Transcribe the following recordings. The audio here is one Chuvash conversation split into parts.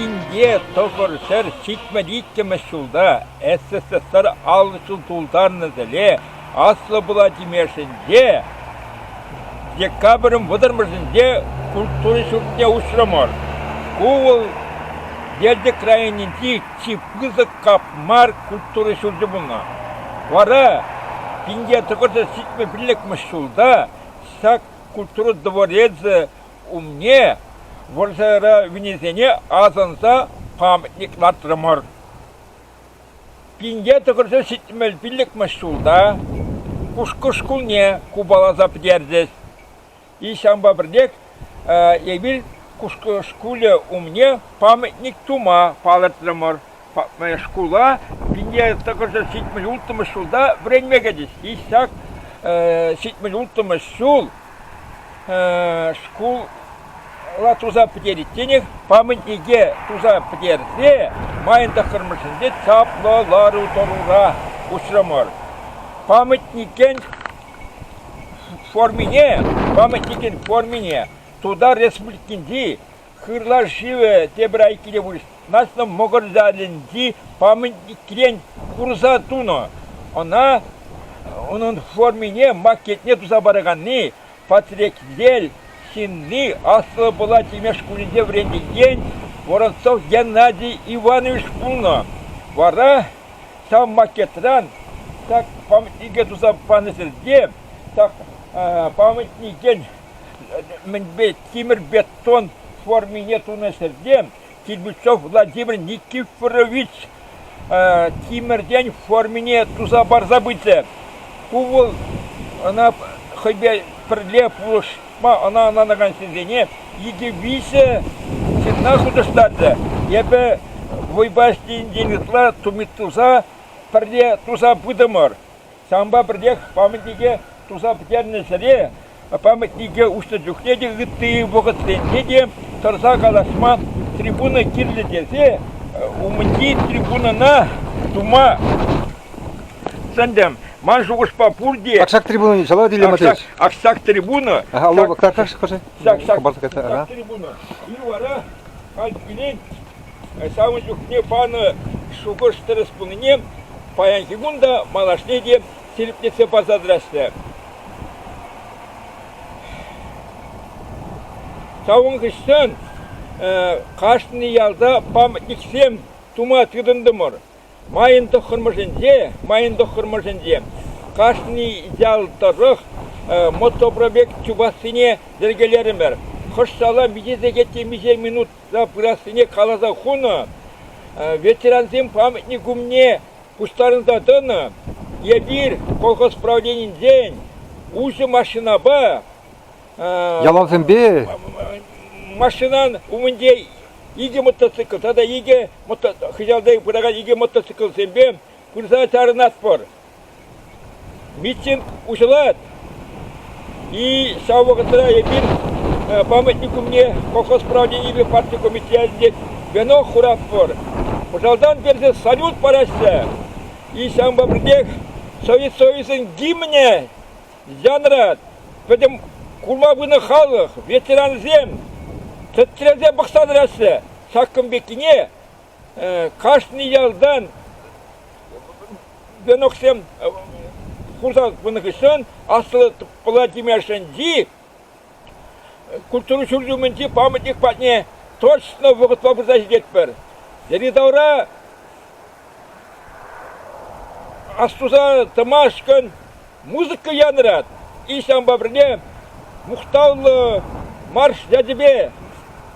Инке тӑхӑр ҫӗр ҫитмӗл иккӗмӗш ҫулта СССР аллӑ ҫул тултарнӑ тӗле Аслӑ Пӑла Тимешӗнче, декабрӗн вӑтӑрмӗшӗнче культура ҫуртне уҫрӑмӑр. Ку вӑл Елчӗк районӗнчи чи пысӑк кап мар культура ҫурчӗ пулнӑ. Вара пинте тӑкӑрсӑр сикме пиллӗкмӗш ҫулта ҫак культура дворецӗ умне вӑрҫӑра вилнисене асӑнса памятник лартрӑмӑр. Пинте тӑкӑрсӑр ҫитмел пиллӗкмӗш ҫулта Кушкӑ шкулне купаласа пӗтерчӗҫ. ҫавӑнпа пӗрлех эпир шкулӗ умне памятник тума палӑртрӑмӑр. Шкула пине тӑкӑрҫӗ ҫитмӗл улттӑмӗш ҫулта вӗренме кӗчӗҫ. Ҫак ҫитмӗл улттӑмӗш ҫул шкула туса пӗтеричченех памятнике туса пӗтерсе майӑн тӑххӑрмӗшӗнче чаплӑ лару-тӑрура уҫрӑмӑр. Памятникӗн Формине, памятникӗн формине Тутар Республикинчи Хырла шывӗ тепӗр айккинче вырнаҫнӑ Мӑкӑр ялӗнчи памятникрен курса тунӑ. Ӑна, унӑн формине макетне туса параканни Патрекьел ҫынни аслӑ Пӑла Тимеш шкулӗнче вӗренекен Воронцов Геннадий Иванович пулнӑ. Вара ҫав макетран так памятнике туса панӑ ҫӗрте так памятникен мӗнпе тимӗр бетон формине тунӑ ҫӗрте Кирпичев Владимир Никифорович тимӗртен формине туса парса пычӗ. Ку вӑл ӑна хӑйпе пӗрле пулӑш ӑна ӑнланакан ҫынсене икӗ-виҫӗ ҫынна хутӑштарчӗ. Эпӗ вӑйпа ӗҫленисен ытла тумит туса пӗрле туса пытӑмӑр. Ҫавӑнпа пӗрлех памятнике туса пӗтернӗ ҫӗре памятнике уҫнӑ чухне те ытти вӑхӑтсенче те тӑрса калаҫма трибуна кирлӗ тесе умӗнчи трибунана тума Сӗнтӗм, ман шухӑшпа пурте... Аксак трибуна ҫала тилӗ матеш. Аксак трибуна... Алло, карташ кӑши. Хӑпарса кайта. Аксак трибуна. И вара, хальт кӳлен, самый чухне панӑ шухӑш тӗрӗс пулнине паянхи кун та малашне те сирӗплетсе парса тӑраҫҫӗ. Савӑн хыҫҫан кашни ялта памятниксем тума тытӑнтӑмӑр. Майӑн тӑххӑрмӗшӗнче майӑн тӑххӑрмӗшӗнче кашни ял тӑрӑх мотопробег чупассине йӗркелерӗмӗр. Хӑш-шала миҫе сехет темиҫе минутра пырассине каласа хунӑ. Ветерансем памятник умне пуҫтарӑнса тӑнӑ. Эпир колхоз правленинчен уҫӑ машинапа Ялавсемпе? Машинан умӗнче икӗ мотоцикл тата икӗ хыҫалта пыракан икӗ мотоциклсемпе пырса чарӑнатпӑр. Митинг уҫӑлать. И ҫав вӑхӑтра эпир памятник умне колхоз правленийӗпе парти комитетӗнче вено хуратпӑр. Пӑшалтан персе салют параҫҫӗ. И ҫавӑнпа пӗрлех Совет Союзӗн гимнӗ Янрать, пӗтӗм курма пынӑ халӑх, ветерансем, тӗттӗмсем пӑхса тӑраҫҫӗ ҫакӑн пеккине. Кашни ялтан веноксем хурса пынӑ хыҫҫӑн Аслӑ Пӑла Тимешӗнчи культура ҫурчӗ умӗнчи памятник патне точно вӑхӑтпа пырса ҫитетпӗр. Йӗри-тавра астуса тӑмашкӑн музыка янӑрать. И ҫавӑнпа пӗрле мухтавлӑ марш ячӗпе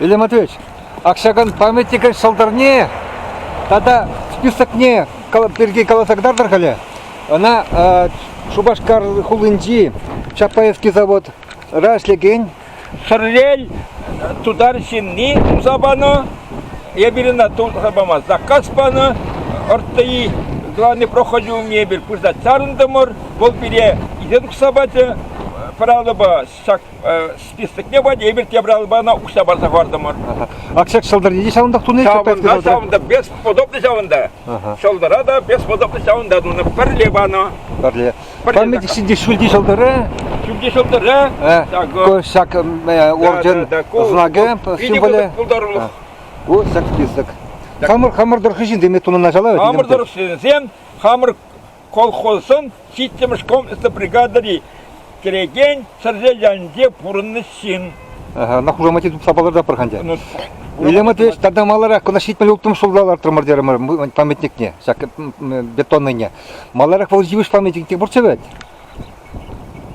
Илья Матвеевич, общаган памятникӗн ҫӑлтӑрне тата списокне пирки каласа кӑтартӑр халӗ. Ӑна Шупашкар хулинчи Чапаевский заводра ӗҫлекен Шӗрлел тутар ҫынни туса панӑ. Эпир ӑна туса паман. Заказ панӑ. РТИ главный проходи умне эпир пырса чарӑнтӑмӑр. Вӑл пире исе тухса пачӗ. Правилӑпа ҫак списокне Владимир Тебралбана уҫса парса хӑвартӑмӑр. Ак ҫак ҫӑлтӑрне те ҫавӑнтах тунӑ ҫавӑнта ҫавӑнта без подобный ҫавӑнта. Ҫӑлтӑра та без подобный ҫавӑнта тунӑ. Пӗрле панӑ. Пӗрле. Пӗрле ҫӗнти ҫӳлти ҫӑлтӑры. Ҫӳлти ҫӑлтӑры. Ҫак орден знакӗ символӗ. Пултарулӑх. Ку ҫак список. Хамӑр хамӑр тӑрӑх ҫынсем тунӑ началлав. Хамӑр тӑрӑх ҫынсем хамӑр Колхозӑн ҫиччӗмӗш комплекслӑ бригадӑри кӗрекен чӗрре ялӗнче пурӑннӑ ҫын. На хушамате тупса палӑртапӑр ха ӗнтӗ. Илемӗ тата маларах кӑна ҫитмӗл улттӑмӗш ҫулта лартрӑмӑр терӗмӗр памятникне, ҫак бетонныйне. Маларах вӑл йывӑҫ памятникне пурччӗ вӗт?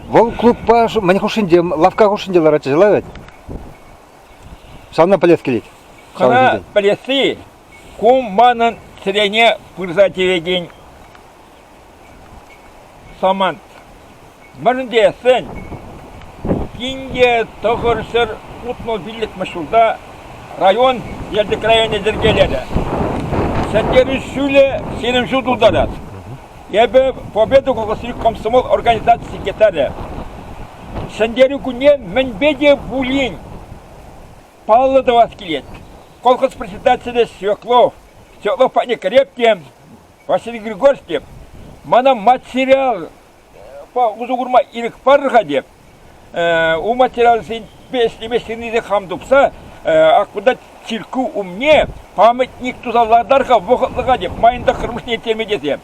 Вӑл клубпа мӗн хушшинче, лавкка хушшинче ларатчӗ вӗт? Ҫавна пӗлес килет. Хӑра пӗлесси Ку манӑн чӗрене пырса тивекен самант. Мӗн тесен тинке тӑхӑр ҫӗр утнӑ пиллӗкмӗш ҫулта район, Елчӗк районӗ йӗркелерӗ. Ҫӗнтерӳ ҫулӗ ҫирӗм ҫул тултарать. Эпӗ Победа кокосри комсомол организаци секретарӗ. Ҫӗнтерӳ кунне мӗнпе те пулин паллӑ тӑвас килет. Колхоз председателӗ Свеклов, Свеклов патне кӗреп те, Василий Григорьевич теп, мана мать сериал усӑ курма ирӗк парӑр-ха теп. У материалсемпе ӗҫлеме сирнисе хам тупса аккунта цирку умне памятник туса лартар-ха вӑхӑтлӑха теп, майӑн тӑххӑрмӗшне ирттерме тесе.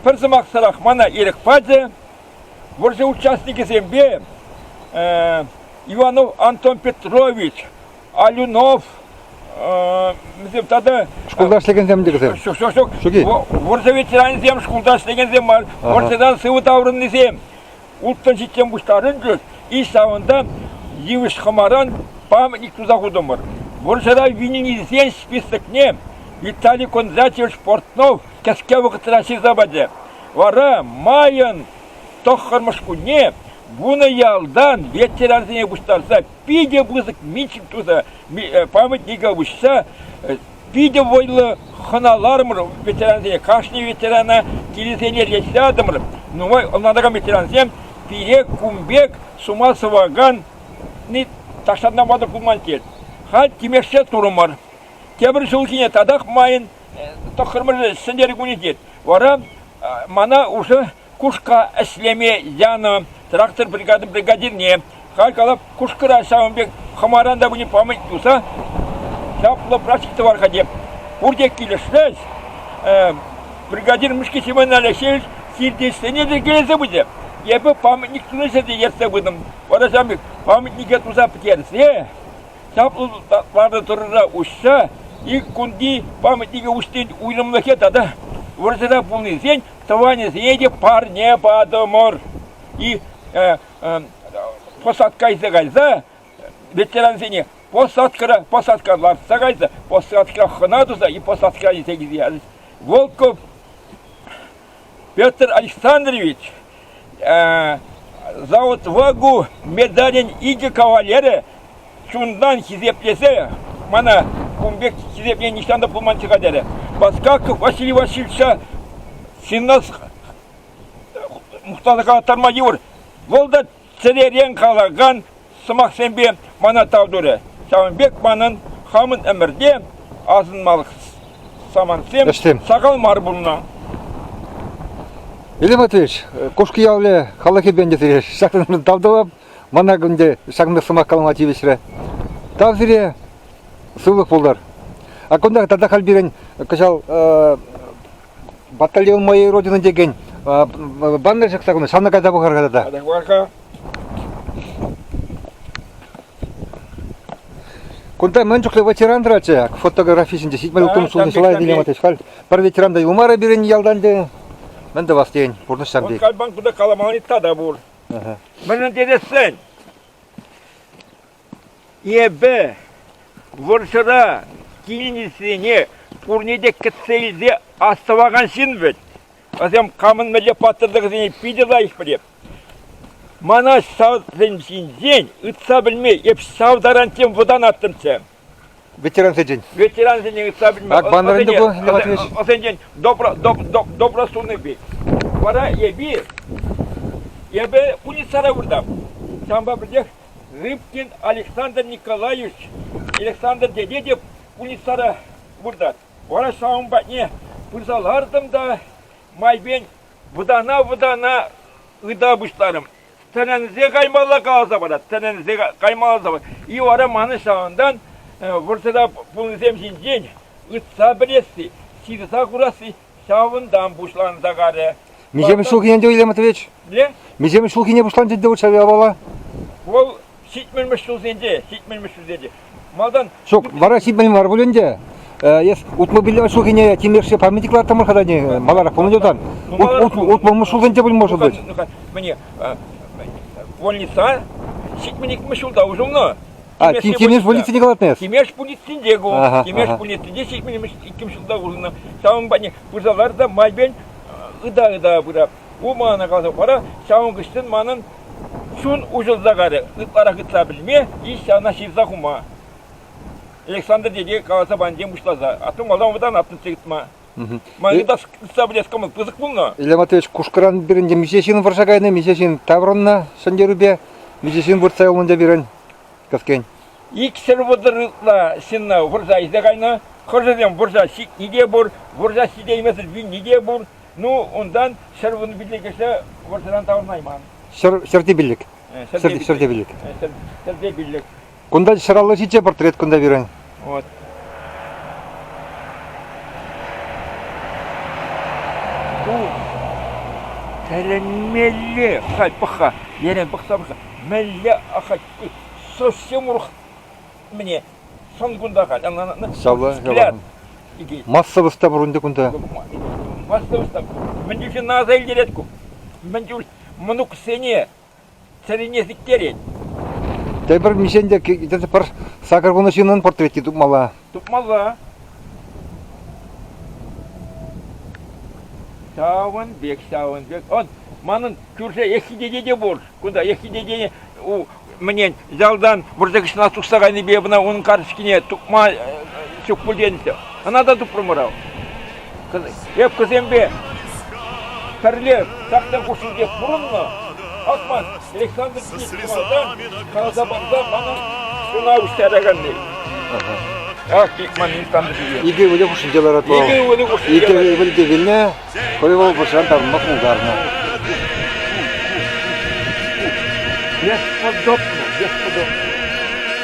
Пӗр сӑмахсӑрах мана ирӗк пачӗ, вӑрҫӑ участникӗсемпе Иванов Антон Петрович, Алюнов, тата... Шкулта ӗҫлекенсем текӗсем? Ҫук, ҫук, ҫук. Вӑрҫӑ ветеранӗсем, шкулта ӗҫлекенсем мар, вӑрҫӑдан сывӑ таврӑннисем. Улттӑн ҫиттен пуҫтарӑнчӗҫ, иш савӑнта йывӑҫ хӑмаран памятник туса хутӑмӑр. Вӑрҫӑра вилнисен списокне Виталий Кондратьевич Портнов кӗске вӑхӑтра ҫырса пачӗ. Вара майӑн тӑххӑрмӗш кунне вунӑ ялтан ветерансене пуҫтарса питӗ пысӑк митинг туса э, памятника уҫса э, питӗ вӑйлӑ хӑналарӑмӑр ветерансене. Кашни ветерана килӗсене рейсладӑмӑр. Нумай ӑнлантаракан ветерансем пире кун пек сума сӑваканни ташланма пулман тет. Халь тимешсе турӑмӑр. Тепӗр ҫул ҫине татах майӑн тӑххӑрмӗш сӗнтӗр кунӗ тет. Вара мана уже кушка ӗҫлеме янӑ трактор бригадин бригадирне. Халь калап кушкӑра ҫавӑн пек хӑмаран та пыни памать туса чаплӑ прачек тӑвар-ха теп. Пурте килӗшрӗҫ. Бригадир Мышки Семен Алексеевич сиртесене те килесе пычӗ. Эпӗ памятник тунӑҫа те ертсе пытӑм. Вара ҫавӑн памятнике туса пӗтерсе чаплӑ ватӑ тӑрӑра уҫса ик кунти памятника уҫнин уйрӑмлӑхӗ тата вӑрҫӑра пулнисен тӑванӗсене те парне патӑмӑр. И э, э, посад кайса кайса ветерансене посадкӑра посадка лартса кайса посадка хӑна туса и посадка илсе килсе Волков Петр Александрович завод-вагу медалӗн икӗ кавалерӗ чунтан хисеплесе мана кун пек хисепне нихҫан та пулман чыха терӗ. Баскаков Василий Васильевича сынна мухтаса калаттарма йывӑр. Вӑл та чӗререн калакан сӑмахсемпе мана тав турӗ. Ҫавӑн пек манӑн хамӑн ӗмӗрте асӑнмалӑх самантсем Ӗҫтем. сахал мар пулнӑ. Вилим Матвеевич, Кушки ялӗ халӑхӗпе ӗнтӗ сире ҫакнӑшӑн тав тӑвап. Мана ӗнтӗ ҫакна сӑмах калама тивӗҫрӗ. Тав сире, сывлӑх пултӑр. А кунтах тата халь пирӗн кӑҫал э, Батальон моей родины текен баннер ҫакса кунта, ҫавна кайса пӑхар-ха тата. Кайса пӑхар-ха. Кунта мӗн чухлӗ ветеран тӑратчӗ, фотографи ҫинче ҫитмел утӑм сулни шӑла этилем атать халь. Пӗр ветеран та юлмарӗ пирӗн ялтан те. Мӗн тӑвас тен, пурнӑҫ ҫам тек. Кальбан кунта каламалли та пур. Мӗншӗн тесен Эпӗ вӑрҫӑра килнисене пурне те кӗтсе илсе астӑвакан ҫын вӗт. Вӗсем камӑн мӗнле паттӑрлӑхӗсене питӗ лайӑх пӗлеп. Мана ҫавсем ҫинчен ыйтса пӗлме эп ҫав таран тем вӑтанаттӑмччӗ. Ветерансенчен. Ветерансенчен ыйтса пӗлме. Акбанран ӑсенчен- тупӑр, Лев Матвеевич. ӑсенчен добро, доп- доп- добросунный. Вара эпир, эпӗ пульницара выртам. Ҫавӑнпа пӗлтех Рыбкин Александр Николаевич Александр тете те пульницара выртать. Вара ҫавӑн патне пырса лартӑм та майпен вӑтана-вӑтана ыта пуҫларӑм. Тӗлӗнсе каймалла каласа парать, тӗлӗнсе каймалла парать. И вара мана ҫавӑнтан вӑрҫӑра пулнисем ҫинчен ытса пӗлесси, ҫырса курасси Ҫавӑнтан пуҫланса карӗ. Миҫемӗш ҫулхи ӗнтӗ, Илья Матвеевич? Не? Миҫемӗш ҫулхине пуҫланчӗ ӗнтӗ вӑл ҫав япала? Вӑл ҫитмӗлмӗш ҫулсенче, ҫитмӗлмӗш ҫулсенче. Малтан Ҫук, вара ҫитмен мар пуль ӗнтӗ. Э, Эс утмӑл пиллӗмӗш ҫулхине тимлешсе памятник ларттӑмӑр-ха та не, маларах пулнӑ тан. Ну, маларах Ут- пулнӑ. Утмӑлмӗш ҫулсенче пулмӑшӑл вӗт. Ну-ка, Мне э, больница ҫитмӗникмӗш ҫулта уже А, кимеш полицине калатнес? Кимеш полицинде ку. Кимеш полицинде ҫитмелмеш иккӗмш ҫулта урнӑ. Ҫавӑн пане пырсалар та майбен ыда-ыда пыра. У мана каласа пара, ҫавӑн кӑштын манӑн чун уҫӑлса карӗ. Ытларах ытса пӗлме, иш ҫавна ҫырса хума. Александр деде каласа пантем пуҫласа. Аттым валдан вӑтан аттым тытма. Ман ытса пӗлес кӑмӑл пысӑк пулнӑ. Илья Матвеевич Кушкӑран пирӗн миҫе ҫын вӑрҫа кайнӑ, миҫе ҫын таврӑннӑ Сӗнтерупе, миҫе ҫын выртса юлнӑ те пирӗн. кӗскен. Иксӗр вӑтӑр ытла ҫынна вырса илсе кайнӑ. Хӑшӗсем вырса ҫитни те пур, вырса ҫитеймесӗр вилни те пур. Ну, унтан ҫӗр вунӑ пиллӗк кӗҫне вырсаран таврӑнайман. Ҫӗр, ҫӗрте пиллӗк. Ҫӗрте, ҫӗрте пиллӗк. Ҫӗрте пиллӗк. Кунта ҫӗр аллӑ ҫичче портрет кунта пирӗн. Ку тӗлӗнмелле ахаль пӑх-ха, енем пӑхса пӑхса, мӗнле ахаль совсем урӑх мне сон кунта халь. Савла, массовость та пур ӗнтӗ кунта. Массовость та. Мӗн чухлӗ аса илтерет ку? Мӗн чуль мӑнуксене Чӗрине сиктерет. Тепӗр миҫен те пӗр сакӑр вунӑ ҫыннӑн портрети тупмалла. Тупмалла. Ҫавӑн пек, ҫавӑн пек. Он, манӑн кӳрше ехидете те пур. Кунта ехидете мӗнен ялтан вӑрҫа кӗҫне тухса кайнипе мына унӑн карточкине тупма ҫук пуль тенӗччӗ. Ӑна та тупрӑмӑр ав. Крепкӑсемпе пӗрле трактор хушшинче пурӑннӑ Акман Александр Николаевичран каласа парса мана ҫуна уҫтараканни. Ах, Бикман Александрович. Икӗ ывӑлӗ хушшинче ларать Икӗ ывӑлӗ хушшинче. Икӗ ывӑлӗ те вилнӗ, хӑй вӑл пӑшан тарӑнма пултарнӑ. Бесподобно, бесподобно.